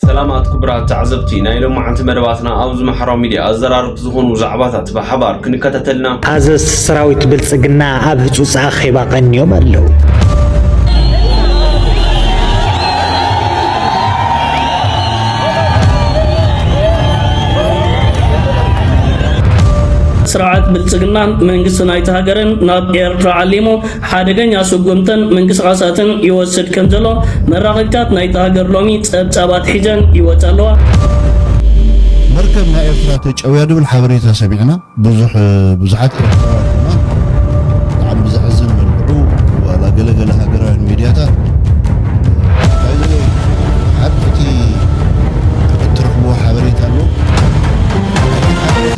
ሰላማት ክቡራት ተዓዘብቲ ናይ ሎማዓንቲ መደባትና ኣብዚ ማሕራዊ ሚድያ ኣዘራረብቲ ዝኾኑ ዛዕባታት ብሓባር ክንከታተል ኢና። ኣዘዝቲ ሰራዊት ብልጽግና ኣብ ህጹጽ ኣኼባ ቀንዮም ኣለዉ። ስርዓት ብልጽግናን መንግስቲ ናይታ ሃገርን ናብ ኤርትራ ዓሊሙ ሓደገኛ ስጉምትን ምንቅስቓሳትን ይወስድ ከም ዘሎ መራኸቢታት ናይታ ሃገር ሎሚ ጸብጻብ ኣትሒዘን ይወጻ ኣለዋ። መርከብ ናይ ኤርትራ ተጨውያ ድብል ሓበሬታ ሰሚዕና ብዙሕ ብዙሓት ኤርትራውያን ድማ ብጣዕሚ ብዘሕዝን መልክዑ ዋላ ገለ ገለ ሃገራውያን ሚድያታት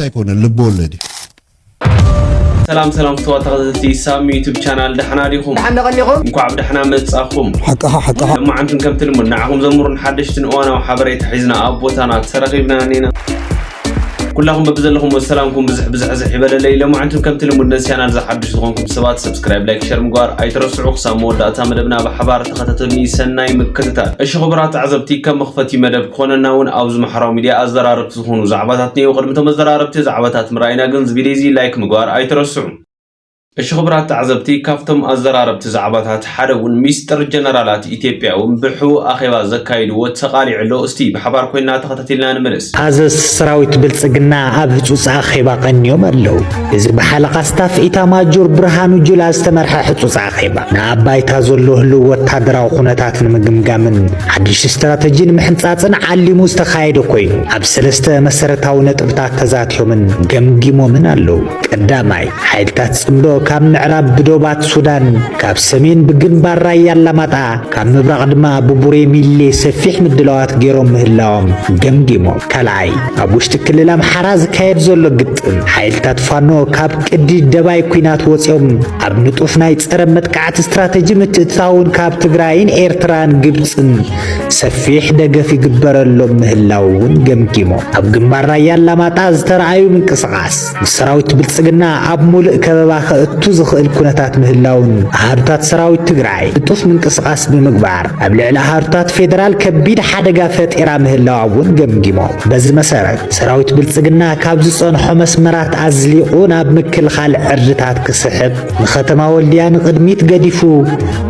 ኣይኮነን ልቦወለድ እዩ ሰላም ሰላም ፍትዋ ተኸዘቲ ሳሚ ዩቱብ ቻናል ዳሕና ዲኹም ዳሕና ቀኒኹም እንኳዕ ብዳሕና መጻኹም ሓቅኻ ሓቅኻ መዓንትን ከምቲ ልሙድ ንዓኹም ዘምሩን ሓደሽትን እዋናዊ ሓበሬታ ሒዝና ኣብ ቦታና ተረኺብና ኔና ኩላኹም በብዘለኹም ሰላምኩም ብዝሕ ብዝሕዝሕ ይበለለይ ለማዓንትን ከምቲ ልሙድ ነዚ ቻናል ዝሓድሽ ዝኾንኩም ሰባት ሰብስክራይብ ላይክ ሸር ምግባር ኣይትረስዑ ክሳብ መወዳእታ መደብና ብሓባር ተኸታተልኒ ሰናይ ምክትታል እሺ ክቡራት ተዓዘብቲ ከም መኽፈቲ መደብ ክኾነና እውን ኣብዚ ማሕበራዊ ሚድያ ኣዘራርብ ዝኾኑ ዛዕባታት እኔዉ ቅድሚ እቶም ኣዘራረብቲ ዛዕባታት ምርኣይና ግን ዝቪድዮዚ ላይክ ምግባር ኣይትረስዑ። እሺ ክቡራት ተዓዘብቲ ካብቶም ኣዘራረብቲ ዛዕባታት ሓደ ውን ሚስጥር ጀነራላት ኢትዮጵያ ውን ብሕቡእ ኣኼባ ዘካይድዎ ተቃሊዑ ኣሎ እስቲ ብሓባር ኮይና ተኸታቲልና ንመለስ። ኣዘዝቲ ሰራዊት ብልፅግና ኣብ ህፁፅ ኣኼባ ቀንዮም ኣለው። እዚ ብሓለቓ ስታፍ ኢታማጆር ብርሃኑ ጁላ ዝተመርሐ ሕጹጽ ኣኼባ ንኣብ ባይታ ዘሎ ህልው ወታደራዊ ኩነታት ንምግምጋምን ሓድሽ ስትራተጂ ንምሕንጻጽን ዓሊሙ ዝተኻየደ ኮይኑ ኣብ ሰለስተ መሰረታዊ ነጥብታት ተዛትዮምን ገምጊሞምን ኣለዉ። ቀዳማይ፣ ሓይልታት ጽምዶ ካብ ምዕራብ ብዶባት ሱዳን፣ ካብ ሰሜን ብግንባር ራያ ኣላማጣ፣ ካብ ምብራቕ ድማ ብቡሬ ሚሌ ሰፊሕ ምድላዋት ገይሮም ምህላዎም ገምጊሞም። ካልኣይ፣ ኣብ ውሽጢ ክልል ኣምሓራ ዝካየድ ዘሎ ግጭት ሓይልታት ፋኖ ካብ ቅዲ ደባይ ኩናት ወፂኦም ኣብ ንጡፍ ናይ ፀረ መጥቃዕቲ ስትራቴጂ ምትእትታውን ካብ ትግራይን ኤርትራን ግብፅን ሰፊሕ ደገፍ ይግበረሎም ምህላው እውን ገምጊሞ ኣብ ግንባር ራያ ኣላማጣ ዝተረኣዩ ምንቅስቓስ ንሰራዊት ብልፅግና ኣብ ሙሉእ ከበባ ከእቱ ዝኽእል ኩነታት ምህላውን ኣሃዱታት ሰራዊት ትግራይ ንጡፍ ምንቅስቓስ ብምግባር ኣብ ልዕሊ ኣሃዱታት ፌዴራል ከቢድ ሓደጋ ፈጢራ ምህላዋ እውን ገምጊሞ በዚ መሰረት ሰራዊት ብልጽግና ካብ ዝጸንሖ መስመራት ኣዝሊቑ ናብ ምክልኻል ዕርድታት ክስሕብ ንኸተማ ወልድያ ንቕድሚት ገዲፉ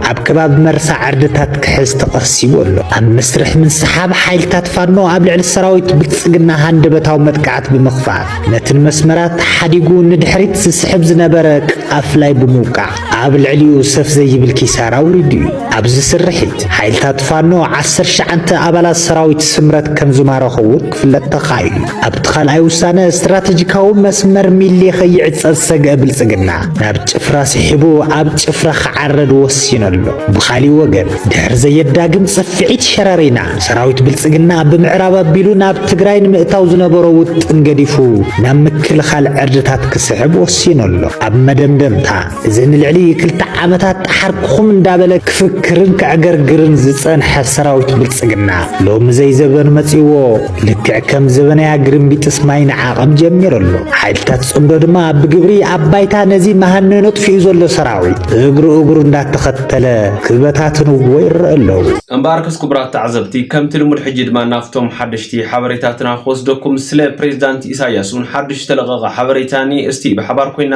ኣብ ከባቢ መርሳ ዕርድታት ክሕዝ ተቐሲቡ ኣሎ። ኣብ መስርሕ ምንስሓብ ሓይልታት ፋኖ ኣብ ልዕሊ ሰራዊት ብልጽግና ሃንደበታዊ መጥቃዕቲ ብምኽፋት ነቲ ንመስመራት ሓዲጉ ንድሕሪት ዝስሕብ ዝነበረ ቃፍላይ ብምውቃዕ ኣብ ልዕሊኡ ሰፍ ዘይብል ኪሳራ ውሪዱ እዩ። ኣብዚ ስርሒት ሓይልታት ፋኖ ዓሰርተ ትሽዓተ ኣባላት ሰራዊት ስምረት ከም ዝማረኹ እውን ክፍለጥ ተኻኢሉ። ኣብቲ ካልኣይ ውሳነ ስትራቴጂካዊ መስመር ሚሊ ከይዕጸ ዝሰግአ ብልጽግና ናብ ጭፍራ ስሒቡ ኣብ ጭፍራ ክዓረድ ወሲኑ ኣሎ። ብኻሊእ ወገን ድሕሪ ዘየዳግም ጽፍዒት ሸረሪና ሰራዊት ብልጽግና ብምዕራብ ኣቢሉ ናብ ትግራይ ንምእታው ዝነበሮ ውጥን ገዲፉ ናብ ምክልኻል ዕርድታት ክስሕብ ወሲኑ ኣሎ። ኣብ መደምደምታ እዚ ንልዕሊ ክልተ ዓመታት ጠሓርኩኹም እንዳበለ ክፍክርን ከዕገርግርን ዝጸንሐ ሰራዊት ብልጽግና፣ ሎሚ ዘይዘበኑ መጺእዎ ልክዕ ከም ዘበናያ ግርምቢጥስ ማይ ንዓቐብ ጀሚሩ ኣሎ። ሓይልታት ጽምዶ ድማ ብግብሪ ኣብ ባይታ ነዚ መሃነኖ ኣጥፊኡ ዘሎ ሰራዊት እግሩ እግሩ እንዳተኸተለ ክበታትንዎ ይረኡ ኣለዉ። እምበኣርከስ ክቡራት ተዓዘብቲ፣ ከምቲ ልሙድ ሕጂ ድማ ናብቶም ሓደሽቲ ሓበሬታትና ክወስደኩም፣ ስለ ፕሬዚዳንት ኢሳያስ እውን ሓዱሽ ዝተለቐቐ ሓበሬታ እኒኤ፣ እስቲ ብሓባር ኮይንና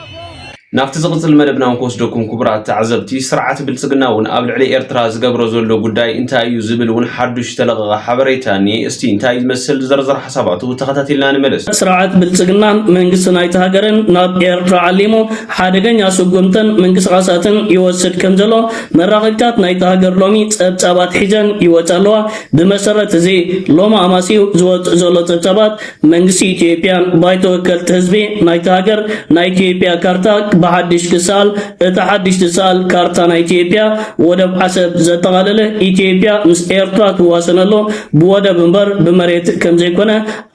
ናብቲ ዝቕጽል መደብና ውን ክወስደኩም ክቡራት ተዓዘብቲ፣ ስርዓት ብልጽግና ውን ኣብ ልዕሊ ኤርትራ ዝገብሮ ዘሎ ጉዳይ እንታይ እዩ ዝብል ውን ሓዱሽ ዝተለቐቐ ሓበሬታ እንኤ። እስቲ እንታይ እዩ ዝመስል ዝርዝር ሓሳባቱ ተኸታቲልና ንመለስ። ስርዓት ብልጽግናን መንግስቲ ናይቲ ሃገርን ናብ ኤርትራ ዓሊሙ ሓደገኛ ስጉምትን ምንቅስቓሳትን ይወስድ ከም ዘሎ መራኸቢታት ናይቲ ሃገር ሎሚ ጸብጻባት ሒዘን ይወጻ ኣለዋ። ብመሰረት እዚ ሎሚ ኣማስዩ ዝወጽእ ዘሎ ጸብጻባት፣ መንግስቲ ኢትዮጵያን ባይቶ ወከልቲ ህዝቢ ናይታ ሃገር ናይ ኢትዮጵያ ካርታ ብሓድሽ ክሰኣል፣ እታ ሓድሽ ትሰኣል ካርታ ናይ ኢትዮጵያ ወደብ ዓሰብ ዘጠቓለለ ኢትዮጵያ ምስ ኤርትራ ትዋሰነሉ ብወደብ እምበር ብመሬት ከምዘይኮነ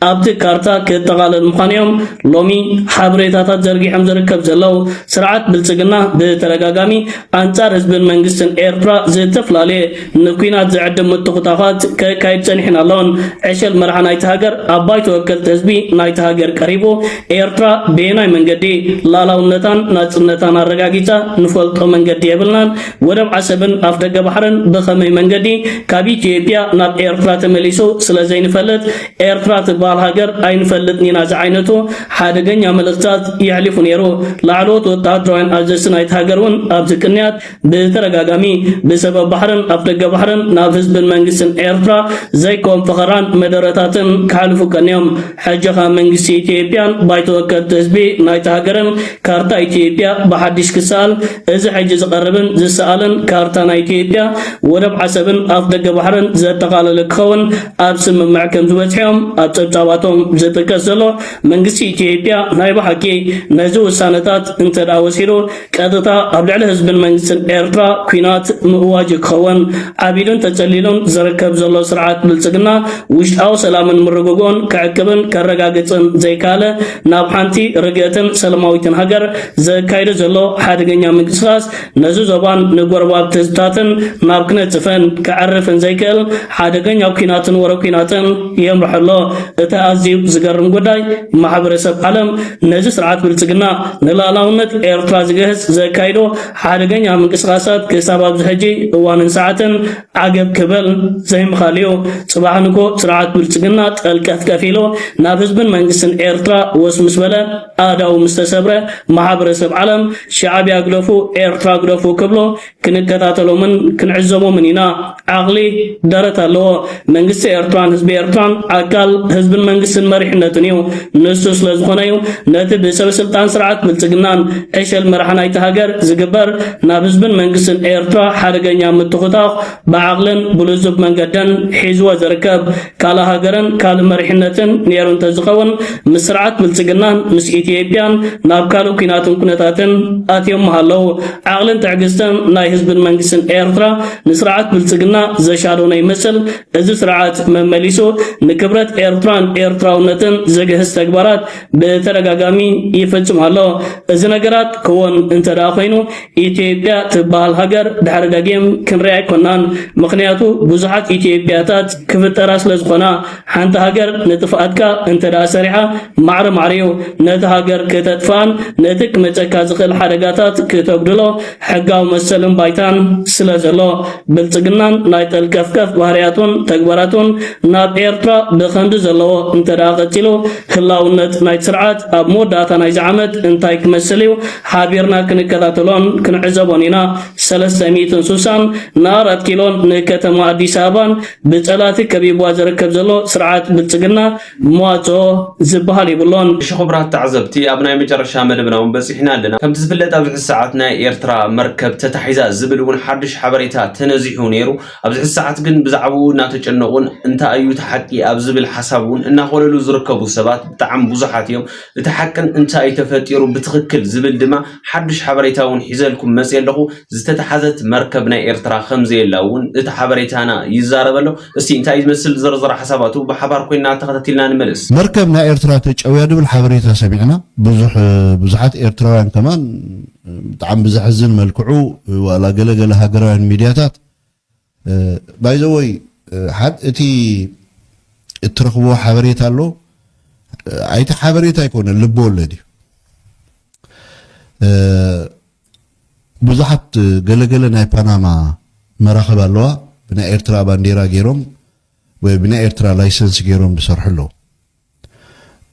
ኣብቲ ካርታ ክጠቓለል ምዃኑ እዮም ሎሚ ሓበሬታታት ዘርጊሖም ዝርከብ ዘለው። ስርዓት ብልጽግና ብተደጋጋሚ ኣንጻር ህዝብን መንግስትን ኤርትራ ዝተፈላለየ ንኲናት ዝዕድም ምትኹታዃት ከካይድ ጸኒሕን ኣሎን። ዕሸል መራሒ ናይቲ ሃገር ኣብ ባይቶ ወከልቲ ህዝቢ ናይቲ ሃገር ቀሪቡ ኤርትራ በየናይ መንገዲ ላላውነታን ናጽነታን ኣረጋጊጻ ንፈልጦ መንገዲ የብልናን፣ ወደብ ዓሰብን ኣፍደገ ባሕርን ብኸመይ መንገዲ ካብ ኢትዮጵያ ናብ ኤርትራ ተመሊሱ ስለዘይንፈልጥ ኤርትራ ትበሃል ሃገር ኣይንፈልጥን ኢና ዝዓይነቱ ሓደገኛ መልእኽትታት የሕሊፉ ነይሩ። ላዕለዎት ወተሃደራውያን ኣዘዝቲ ናይቲ ሃገር እውን ኣብዚ ቅንያት ብተደጋጋሚ ብሰበብ ባሕርን ኣፍደገ ባሕርን ናብ ህዝብን መንግስትን ኤርትራ ዘይኮን ፈኸራን መደረታትን ክሓልፉ ቀንዮም። ሕጂኻ መንግስቲ ኢትዮጵያን ባይቶ ወከልቲ ህዝቢ ናይታ ሃገርን ካርታ ኢትዮጵያ ብሓዲሽ ክሰኣል እዚ ሕጂ ዝቐርብን ዝሰኣልን ካርታ ናይ ኢትዮጵያ ወደብ ዓሰብን ኣፍደገ ባሕርን ዘጠቓለለ ክኸውን ኣብ ስምምዕ ከምዝበጽሑዮም ኣብ ጸብጻባቶም ዝጥቀስ ዘሎ። መንግስቲ ኢትዮጵያ ናይ ብሓቂ ነዚ ውሳነታት እንተድኣ ወሲዱ ቀጥታ ኣብ ልዕሊ ህዝብን መንግስትን ኤርትራ ኩናት ምእዋጅ እዩ ክኸውን። ዓቢዱን ተጸሊሉን ዝርከብ ዘሎ ስርዓት ብልጽግና ውሽጣዊ ሰላምን ምርግግኡን ከዕቅብን ከረጋግጽን ዘይከኣለ ናብ ሓንቲ ርግእትን ሰለማዊትን ሃገር ዘካይዶ ዘሎ ሓደገኛ ምንቅስቓስ ነዚ ዞባን ንጎረባብቲ ህዝብታትን ናብ ክነጽፈን ከዕርፍን ዘይክእል ሓደገኛ ኩናትን ወረ ኩናትን የምርሖ ኣሎ። እቲ ኣዝዩ ዝገርም ጉዳይ ማሕበረሰብ ዓለም ነዚ ስርዓት ብልጽግና ንልኣላውነት ኤርትራ ዝግህስ ዘካይዶ ሓደገኛ ምንቅስቃሳት ክሳብ ኣብዚ ሕጂ እዋንን ሰዓትን ዓገብ ክበል ዘይምኻል እዩ። ጽባሕ ንግሆ ስርዓት ብልጽግና ጠልቀፍቀፍ ኢሉ ናብ ህዝብን መንግስትን ኤርትራ ወስ ምስ በለ ኣእዳው ምስ ተሰብረ ማሕበረሰብ ዓለም ሻዕብያ ግደፉ ኤርትራ ግደፉ ክብሎ ክንከታተሎምን ክንዕዘቦምን ኢና። ዓቕሊ ደረት ኣለዎ። መንግስቲ ኤርትራን ህዝቢ ኤርትራን ኣካል ህዝብን መንግስትን መሪሕነትን እዩ። ንሱ ስለዝኾነ እዩ ነቲ ብሰበስልጣን ስርዓት ብልጽግናን ዕሸል መራሒ ናይቲ ሃገር ዝግበር ናብ ህዝብን መንግስትን ኤርትራ ሓደገኛ ምትኹታኽ ብዓቕልን ብልዙብ መንገድን ሒዝዎ ዝርከብ። ካልእ ሃገርን ካልእ መሪሕነትን ኔሩ እንተዝኸውን ምስ ስርዓት ብልጽግናን ምስ ኢትዮጵያን ናብ ካልእ ኩናትን ኩነታትን ኣትዮም ምሃለው። ዓቕልን ትዕግስትን ናይ ህዝብን መንግስትን ኤርትራ ንስርዓት ብልጽግና ዘሻዶነ ይመስል። እዚ ስርዓት መመሊሱ ንክብረት ኤርትራን ኤርትራውነትን ዘግህስ ተግባራት ብተደጋጋሚ ይፍጽም ኣሎ። እዚ ነገራት ክወን እንተደኣ ኮይኑ ኢትዮጵያ ትበሃል ሃገር ድሕሪ ደጊም ክንሪኣ ኣይኮናን ምኽንያቱ ብዙሓት ኢትዮጵያታት ክፍጠራ ስለዝኾና ሓንቲ ሃገር ንጥፍኣትካ እንተደኣ ሰሪሓ ማዕረ ማዕሪዩ ነቲ ሃገር ክተጥፍኣን ነቲ ክመጸካ ዝኽእል ሓደጋታት ክተጉድሎ ሕጋዊ መሰልን ባይታን ስለዘሎ ብልጽግናን ናይ ጠልቀፍቀፍ ባህርያቱን ተግባራቱን ናብ ኤርትራ ብኸምዚ ዘለዎ እንተደኣ ቀጺሉ ህላውነት ናይቲ ስርዓት ኣብ መወዳእታ ናይዚ ዓመት እንታይ ክመስል እዩ ሓቢርና ክንከታተሎን ክንዕዘቦን ኢና። ሰለስተ ሚእትን ሱሳን ንኣራት ኪሎን ንከተማ ኣዲስ ኣበባን ብፀላእቲ ከቢብዋ ዝርከብ ዘሎ ስርዓት ብልፅግና መዋፅኦ ዝበሃል የብሎን። እሺ ኹብራት ተዓዘብቲ ኣብ ናይ መጨረሻ መደብና ውን በፂሕና ኣለና። ከምቲ ዝፍለጥ ኣብዚ ሕዚ ሰዓት ናይ ኤርትራ መርከብ ተታሒዛ ዝብል ውን ሓዱሽ ሓበሬታ ተነዚሑ ነይሩ። ኣብዚ ሕዚ ሰዓት ግን ብዛዕብኡ እናተጨነቑን እንታይ እዩ እቲ ሓቂ ኣብ ዝብል ሓሳብ ውን እናኾለሉ ዝርከቡ ሰባት ብጣዕሚ ብዙሓት እዮም። እቲ ሓቅን እንታይ'ዩ ተፈጢሩ ብትኽክል ዝብል ድማ ሓዱሽ ሓበሬታ'ውን ሒዘልኩም መጺኤ ኣለኹ። ዝተታሕዘት መርከብ ናይ ኤርትራ ከምዘየላ'ውን እቲ ሓበሬታና ይዛረብ ኣሎ። እስቲ እንታይ'ዩ ዝመስል ዝርዝር ሓሳባቱ ብሓባር ኮይንና ተኸታቲልና ንመለስ። መርከብ ናይ ኤርትራ ተጨውያ ዝብል ሓበሬታ ሰሚዕና ብዙሕ ብዙሓት ኤርትራውያን ከማን ብጣዕሚ ብዘሕዝን መልክዑ ዋላ ገለ ገለ ሃገራውያን ሚድያታት ባይዘወይ ሓድ እቲ እትረኽብዎ ሓበሬታ ኣሎ ኣይቲ ሓበሬታ ኣይኮነን ልቢ ወለድ እዩ ብዙሓት ገለገለ ናይ ፓናማ መራኽብ ኣለዋ ብናይ ኤርትራ ባንዴራ ገይሮም ወይ ብናይ ኤርትራ ላይሰንስ ገይሮም ዝሰርሑ ኣለዉ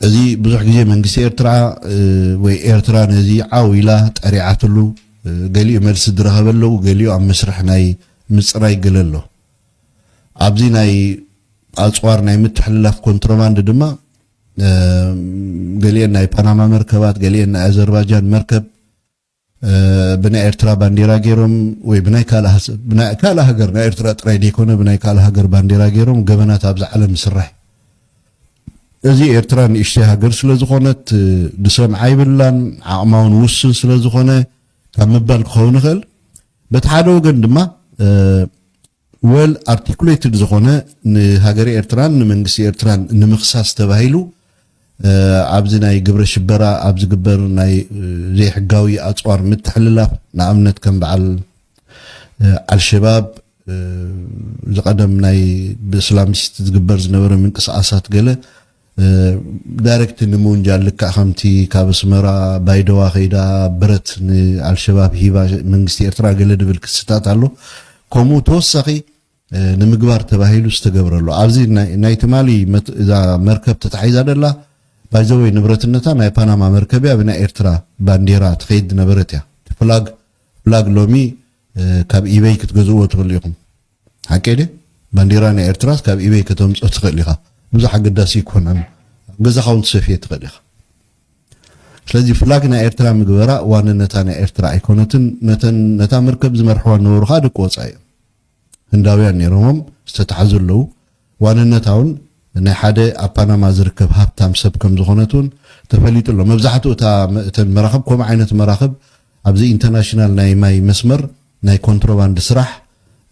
እዚ ብዙሕ ግዜ መንግስቲ ኤርትራ ወይ ኤርትራ ነዚ ዓው ኢላ ጠሪዓትሉ ገሊኡ መልሲ ዝረኸበ ኣለው ገሊኡ ኣብ መስርሕ ናይ ምጽራይ ገለ ኣሎ ኣብዚ ናይ ኣጽዋር ናይ ምትሕልላፍ ኮንትሮባንድ ድማ ገሊኤን ናይ ፓናማ መርከባት ገሊኤን ናይ ኣዘርባጃን መርከብ ብናይ ኤርትራ ባንዴራ ጌሮም ወይ ብናይ ካልእ ሃገር ናይ ኤርትራ ጥራይ ደይኮነ ብናይ ካልእ ሃገር ባንዴራ ጌሮም ገበናት ኣብዛ ዓለም ይስራሕ እዚ ኤርትራ ንእሽተይ ሃገር ስለ ዝኾነት ድሰምዓ ይብላን ዓቕማውን ውስን ስለ ዝኾነ ካብ ምባል ክኸውን ይኽእል በቲ ሓደ ወገን ድማ ዌል ኣርቲኩሌትድ ዝኾነ ንሃገረ ኤርትራን ንመንግስቲ ኤርትራን ንምኽሳስ ተባሂሉ ኣብዚ ናይ ግብረ ሽበራ ኣብ ዝግበር ናይ ዘይሕጋዊ ኣጽዋር ምትሕልላፍ ንኣብነት ከም በዓል ኣልሸባብ ዝቐደም ናይ ብእስላሚስት ዝግበር ዝነበረ ምንቅስቓሳት ገለ ዳይረክት ንምውንጃል ልክዕ ከምቲ ካብ ኣስመራ ባይደዋ ከይዳ ብረት ንኣልሸባብ ሂባ መንግስቲ ኤርትራ ገለ ድብል ክስታት ኣሎ ከምኡ ተወሳኺ ንምግባር ተባሂሉ ዝተገብረ ኣሎ ኣብዚ ናይ ትማሊ እዛ መርከብ ተታሒዛ ደላ ባይዘወይ ንብረትነታ ናይ ፓናማ መርከብ እያ ብናይ ኤርትራ ባንዴራ ትኸይድ ነበረት እያ ፍላግ ፍላግ ሎሚ ካብ ኢበይ ክትገዝእዎ ትኽእሉ ኢኹም ሓቀይ ድየ ባንዴራ ናይ ኤርትራስ ካብ ኢበይ ከተምጾ ትክእል ኢካ ብዙሕ ኣገዳሲ ኣይኮነን ኣብ ገዛካ ውን ትሰፍዬ ትክእል ኢካ ስለዚ ፍላግ ናይ ኤርትራ ምግበራ ዋንነታ ናይ ኤርትራ ኣይኮነትን ነተን ነታ መርከብ ዝመርሕዋ ዝነበሩ ከኣ ደቂ ወጻኢ እዮም ህንዳውያን ነይሮሞም ዝተታሕዙ ኣለዉ ዋንነታ'ውን ናይ ሓደ ኣብ ፓናማ ዝርከብ ሃብታም ሰብ ከም ዝኾነት'ውን ተፈሊጡ ኣሎ። መብዛሕትኡ እታ እተን መራኽብ ከምኡ ዓይነት መራኽብ ኣብዚ ኢንተርናሽናል ናይ ማይ መስመር ናይ ኮንትሮባንድ ስራሕ፣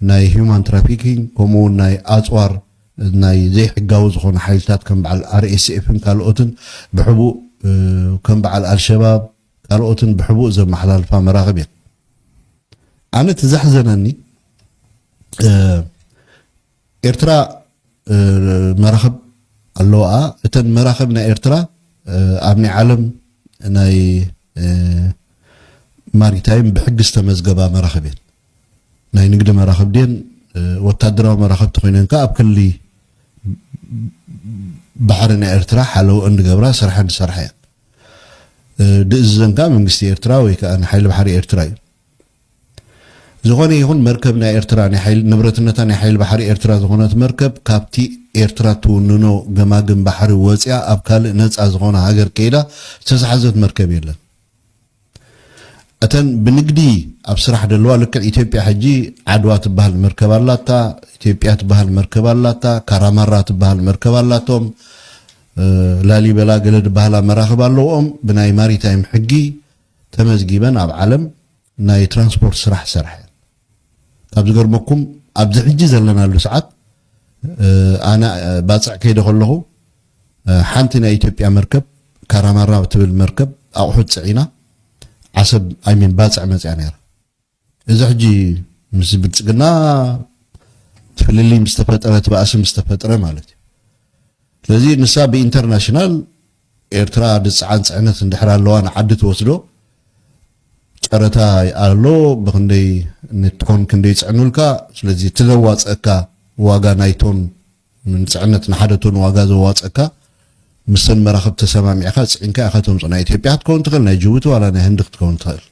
ናይ ሂዩማን ትራፊኪንግ ከምኡ'ውን ናይ ኣጽዋር ናይ ዘይሕጋዊ ዝኾኑ ሓይልታት ከም በዓል ኣርኤስኤፍን ካልኦትን ብሕቡእ ከም በዓል ኣልሸባብ ካልኦትን ብሕቡእ ዘመሓላልፋ መራኽብ እየን። ኣነ እቲ ዘሕዘነኒ ኤርትራ መራኽብ ኣለዋኣ እተን መራኽብ ናይ ኤርትራ ኣብ ናይ ዓለም ናይ ማሪታይም ብሕጊ ዝተመዝገባ መራኽብ እየን ናይ ንግዲ መራኽብ ድየን ወታደራዊ መራኽብ ተኮይነን ከኣ ኣብ ክሊ ባሕሪ ናይ ኤርትራ ሓለው እንድገብራ ስራሕ እንድሰርሓ እየን ድእዝዘን ከዓ መንግስቲ ኤርትራ ወይ ከዓ ንሓይሊ ባሕሪ ኤርትራ እዩ ዝኾነ ይኹን መርከብ ናይ ኤርትራ ናይ ሓይሊ ንብረትነታ ናይ ሓይሊ ባሕሪ ኤርትራ ዝኾነት መርከብ ካብቲ ኤርትራ ትውንኖ ገማግም ባሕሪ ወጺኣ ኣብ ካልእ ነጻ ዝኾነ ሃገር ከይዳ ዝተታሕዘት መርከብ የለን። እተን ብንግዲ ኣብ ስራሕ ደለዋ ልክዕ ኢትዮጵያ ሕጂ ዓድዋ ትበሃል መርከብ ኣላታ ኢትዮጵያ ትበሃል መርከብ ኣላታ ካራማራ ትበሃል መርከብ ኣላቶም ላሊበላ ገለ ዝበሃላ መራኽብ ኣለውኦም ብናይ ማሪታይም ሕጊ ተመዝጊበን ኣብ ዓለም ናይ ትራንስፖርት ስራሕ ዝሰርሓ እየን ካብ ዝገርመኩም ኣብዚ ሕጂ ዘለናሉ ሰዓት ኣነ ባጽዕ ከይደ ከለኹ ሓንቲ ናይ ኢትዮጵያ መርከብ ካራማራ ትብል መርከብ ኣቑሑት ጽዒና ዓሰብ ኣይሚን ባጽዕ መጽያ ነይራ እዚ ሕጂ ምስ ብልጽግና ፍልልይ ምስ ተፈጥረ እቲ ባእሲ ምስ ተፈጥረ ማለት እዩ። ስለዚ ንሳ ብኢንተርናሽናል ኤርትራ ድጽዓን ጽዕነት እንድሕር ኣለዋ ንዓዲ ትወስዶ ጨረታ ኣሎ ብክንደይ ንቶን ክንደይ ይጽዕኑልካ ስለዚ እቲ ዘዋጽኣካ ዋጋ ናይ ቶን ንጽዕነት ንሓደ ቶን ዋጋ ዘዋጽኣካ ምሰን መራኽብ ተሰማሚዕካ ጽዒንካ ኢኻ ተምጽኦ ናይ ኢትዮጵያ ክትከውን ትኽእል ናይ ጅቡቲ ዋላ ናይ ህንዲ ክትከውን ትኽእል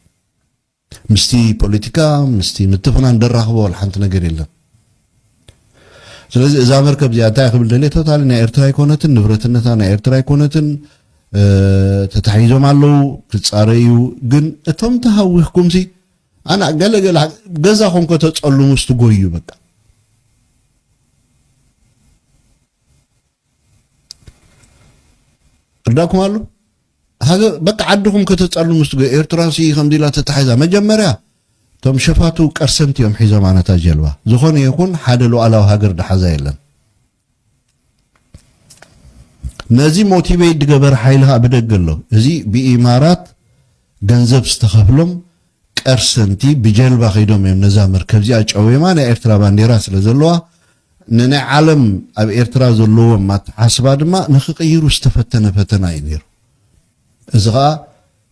ምስቲ ፖለቲካ ምስቲ ምትፍናን ደራኽቦ ወላ ሓንቲ ነገር የለን። ስለዚ እዛ መርከብ እዚኣ እንታይ ክብል ደልየ ቶታሊ ናይ ኤርትራ ኣይኮነትን፣ ንብረትነታ ናይ ኤርትራ ኣይኮነትን፣ ተታሒዞም ኣለዉ ክጻረዩ። ግን እቶም ተሃዊኽኩምሲ ኣና ገለገለ ገዛኹም ከተጸልሙ ስትጎዩ በቃ እርዳኩም ኣሎ ሃገር በቃ ዓድኹም ከተጸሉ ምስ ትገ ኤርትራ ሲ ከምዚ ኢላ ተታሒዛ መጀመርያ እቶም ሸፋቱ ቀርሰንቲ እዮም ሒዞም ኣነታ ጀልባ ዝኾነ ይኹን ሓደ ሉዓላዊ ሃገር ድሓዛ የለን ነዚ ሞቲቬት ድገበረ ሓይሊ ከዓ ብደገ ኣሎ እዚ ብኢማራት ገንዘብ ዝተኸፍሎም ቀርሰንቲ ብጀልባ ከይዶም እዮም ነዛ መርከብ እዚኣ ጨዌማ ናይ ኤርትራ ባንዴራ ስለ ዘለዋ ንናይ ዓለም ኣብ ኤርትራ ዘለዎም ኣተሓስባ ድማ ንክቅይሩ ዝተፈተነ ፈተና እዩ ነይሩ። እዚ ከኣ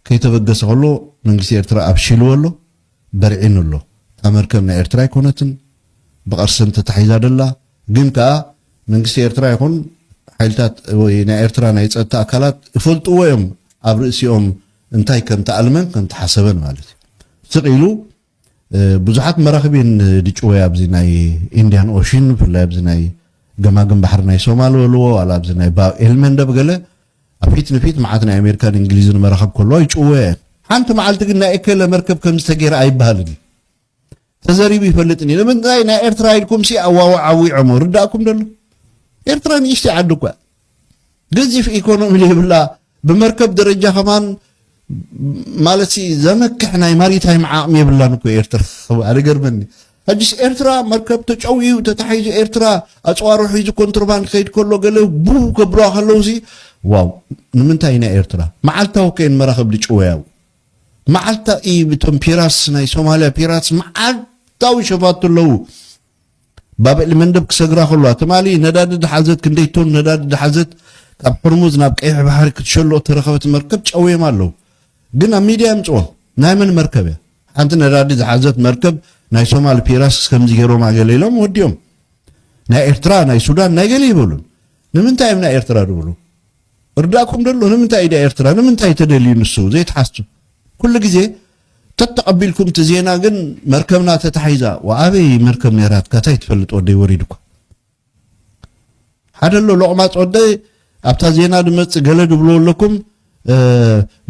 ከይተበገሰ ከሎ መንግስቲ ኤርትራ ኣፍሺልዎ ኣሎ፣ በርዒኑ ኣሎ። እታ መርከብ ናይ ኤርትራ ኣይኮነትን፣ ብቅርሲ እንተታሒዛ ደላ ግን ከኣ መንግስቲ ኤርትራ ይኹን ሓይልታት ወይ ናይ ኤርትራ ናይ ጸጥታ ኣካላት እፈልጥዎ እዮም ኣብ ርእሲኦም እንታይ ከምተኣልመን ከምተሓሰበን ማለት እዩ። ስቅ ኢሉ ብዙሓት መራኽቢ እየን ድጭወያ ኣብዚ ናይ ኢንድያን ኦሽን ብፍላይ ኣብዚ ናይ ገማግም ባሕሪ ናይ ሶማል በልዎ ዋላ ኣብዚ ናይ ባብ ኤልመንደብ ገለ ኣብ ፊት ንፊት መዓት ናይ ኣሜሪካን እንግሊዝን መራኽብ ከለዋ ይጭወያ እየን ሓንቲ መዓልቲ ግን ናይ እከለ መርከብ ከምዚ ተገይረ ኣይበሃልን እዩ ተዘሪቡ ይፈልጥን እዩ ንምንታይ ናይ ኤርትራ ኢልኩም ሲ ኣዋዋዓዊዖሞ ርዳእኩም ደሎ ኤርትራ ንእሽተይ ዓዲ እኳ ገዚፍ ኢኮኖሚ ዘይብላ ብመርከብ ደረጃ ከማን ማለት ዘመክሕ ናይ ማሪታይም ዓቕሚ የብላን እኮ ኤርትራ ኣነ ገርመኒ ሕጅስ ኤርትራ መርከብ ተጨውዩ ተታሒዙ ኤርትራ ኣፅዋሮ ሒዙ ኮንትሮባንድ ከይድ ከሎ ገለ ቡ ከብለዋ ከለዉ ሲ ዋው ንምንታይ ኢና ኤርትራ መዓልታዊ ከይን መራኽብ ድጭወያው መዓልታ እቶም ፒራትስ ናይ ሶማልያ ፒራትስ መዓልታዊ ሸፋቱ ኣለዉ ባብኤል መንደብ ክሰግራ ከለዋ ትማሊ ነዳዲ ዝሓዘት ክንደይ ቶን ነዳዲ ዝሓዘት ካብ ሕርሙዝ ናብ ቀይሕ ባሕሪ ክትሸሎ እተረኸበት መርከብ ጨውዮም ኣለዉ። ግን ኣብ ሚድያ የምጽዎ ናይ መን መርከብ እያ? ሓንቲ ነዳዲ ዝሓዘት መርከብ ናይ ሶማሊ ፒራስ ከምዚ ገይሮማ ገለ ኢሎም ወዲኦም ናይ ኤርትራ ናይ ሱዳን ናይ ገለ ይበሉን ንምንታይ እዮም ናይ ኤርትራ ዝብሉ እርዳእኩም ደሎ ንምንታይ ኢደ ኤርትራ ንምንታይ ተደልዩ ንሱ ዘይትሓሱ ኩሉ ግዜ ተተቀቢልኩም እቲ ዜና ግን መርከብና ተታሒዛ ወኣበይ መርከብ ነይራትካ ታይ ትፈልጥ ወደይ ወሪዱካ ሓደ ኣሎ ሎቅማፅ ወደይ ኣብታ ዜና ድመፅእ ገለ ድብልዎ ኣለኩም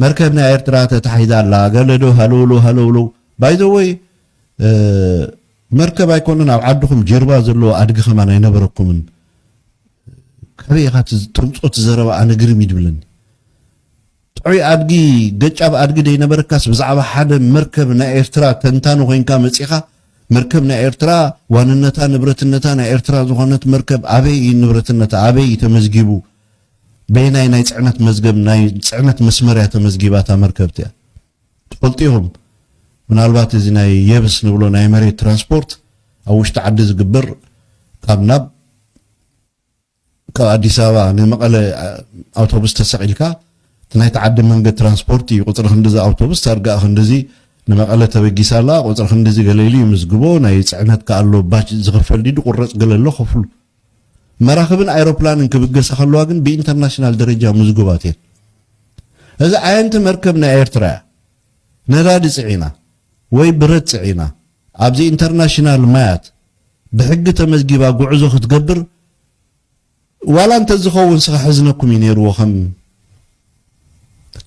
መርከብ ናይ ኤርትራ ተታሒዛ ኣላ ገለ ዶ ሃለውሎ ሃለውሎ ባይዘወይ መርከብ ኣይኮነን ኣብ ዓድኹም ጅርባ ዘለዎ ኣድጊ ከማን ኣይነበረኩምን ካበይ ኢኻ ተምፆ ትዘረባ ኣነ ግርም ይድብለኒ ጥዑይ ኣድጊ ገጫብ ኣድጊ ደይነበረካስ ብዛዕባ ሓደ መርከብ ናይ ኤርትራ ተንታኒ ኮይንካ መጺኻ መርከብ ናይ ኤርትራ ዋንነታ ንብረትነታ ናይ ኤርትራ ዝኾነት መርከብ ኣበይ እዩ ንብረትነታ ኣበይ እዩ ተመዝጊቡ በየናይ ናይ ጽዕነት መዝገብ ናይ ጽዕነት መስመር እያ ተመዝጊባ እታ መርከብ እቲኣ ትፈልጡ ኢኹም ምናልባት እዚ ናይ የብስ ንብሎ ናይ መሬት ትራንስፖርት ኣብ ውሽጢ ዓዲ ዝግበር ካብ ናብ ካብ ኣዲስ ኣበባ ንመቐለ ኣውቶቡስ ተሰቒልካ እቲ ናይቲ ዓዲ መንገድ ትራንስፖርት እዩ ቁፅሪ ክንድዚ ኣውቶቡስ ታርጋኣ ክንድዚ ንመቐለ ተበጊሳ ኣላ ቁፅሪ ክንድዚ ገለ ኢሉ ይምዝግቦ ናይ ፅዕነት ከ ኣሎ ባች ዝኽፈል ድዩ ድቑረፅ ገለ ኣሎ ክፍሉ መራኽብን ኣይሮፕላንን ክብገሳ ከለዋ ግን ብኢንተርናሽናል ደረጃ ምዝጉባት እየን እዚ ዓየንቲ መርከብ ናይ ኤርትራ እያ ነዳዲ ፅዒና ወይ ብረት ፅዒና ኣብዚ ኢንተርናሽናል ማያት ብሕጊ ተመዝጊባ ጉዕዞ ክትገብር ዋላ እንተዝኸውን ስ ከሕዝነኩም እዩ ነይርዎ ከም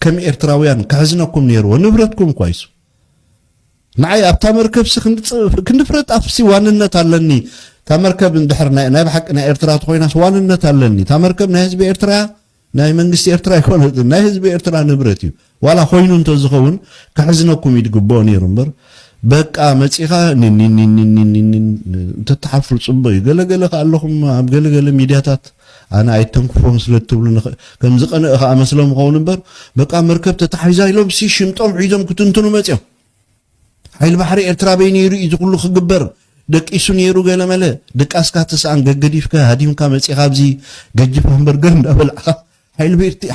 ከም ኤርትራውያን ከሕዝነኩም ነይርዎ ንብረትኩም እኳ ይሱ ንዓይ ኣብታ መርከብሲ ክንዲ ፍረ ጣፍሲ ዋንነት ኣለኒ እታ መርከብ እንድሕር ናይ ብሓቂ ናይ ኤርትራ ተኮይናስ ዋንነት ኣለኒ እታ መርከብ ናይ ህዝቢ ኤርትራ ናይ መንግስቲ ኤርትራ ኣይኮነትን ናይ ህዝቢ ኤርትራ ንብረት እዩ ዋላ ኮይኑ እንተዝኸውን ከሕዝነኩም እዩ ድግብኦ ነይሩ እምበር በቃ መጺኻ ኒኒኒኒኒኒን እንተትሓፍሩ ጽቡቅ እዩ ገለ ገለ ከኣ ኣለኹም ኣብ ገለ ገለ ሚድያታት ኣነ ኣይተንክፎም ስለ እትብሉ ከም ዝቀንእ ከኣ መስሎም ይኸውን እምበር በቃ መርከብ ተታሒዛ ኢሎም ሲ ሽምጦም ሒዞም ክትንትኑ መጺኦም ሓይሊ ባሕሪ ኤርትራ ኣበይ ነይሩ እዩ እዚ ኩሉ ክግበር ደቂሱ ነይሩ ገለመለ ድቃስካ ትስኣን ገገዲፍካ ሃዲምካ መጺኻ ኣብዚ ገጅፍ ሃምበርገር እንዳበላዕኻ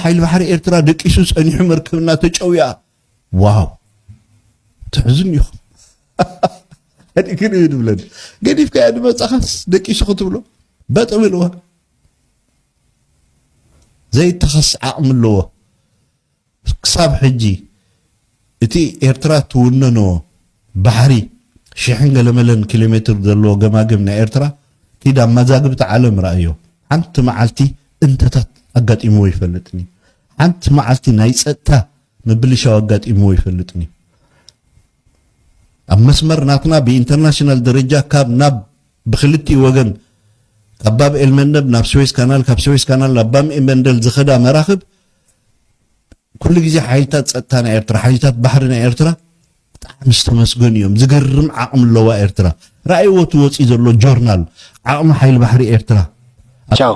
ሓይሊ ባሕሪ ኤርትራ ደቂሱ ጸኒሑ መርከብና ተጨውያ ዋው ትሕዝን ኢኹም ግን እዩ ድብለን ገዲፍካ እያ ድመጻኻስ ደቂሱ ክትብሎ በጥም ኢልዋ ዘይተኸስ ዓቕሚ ኣለዎ ክሳብ ሕጂ እቲ ኤርትራ ትውነኖ ባሕሪ ሽሕን ገለመለን ኪሎሜትር ዘለዎ ገማግም ናይ ኤርትራ ኪድ ኣብ ማዛግብቲ ዓለም ረኣዮ ሓንቲ መዓልቲ እንተታት ኣጋጢምዎ ይፈልጥን እዩ ሓንቲ መዓልቲ ናይ ጸጥታ ምብልሻው ኣጋጢምዎ ይፈልጥን እዩ ኣብ መስመር ናትና ብኢንተርናሽናል ደረጃ ካብ ናብ ብክልቲኡ ወገን ካብ ባብ ኤልመንደብ ናብ ስዌዝ ካናል ካብ ስዌዝ ካናል ናብ ባብ ኤልመንደል ዝኸዳ መራኽብ ኩሉ ግዜ ሓይልታት ጸጥታ ናይ ኤርትራ ሓይልታት ባሕሪ ናይ ኤርትራ ብጣዕሚ ዝተመስገኑ እዮም ዝገርም ዓቕሚ ኣለዋ ኤርትራ ራእይዎ እቲ ወፅኢ ዘሎ ጆርናል ዓቕሚ ሓይሊ ባሕሪ ኤርትራ ቻው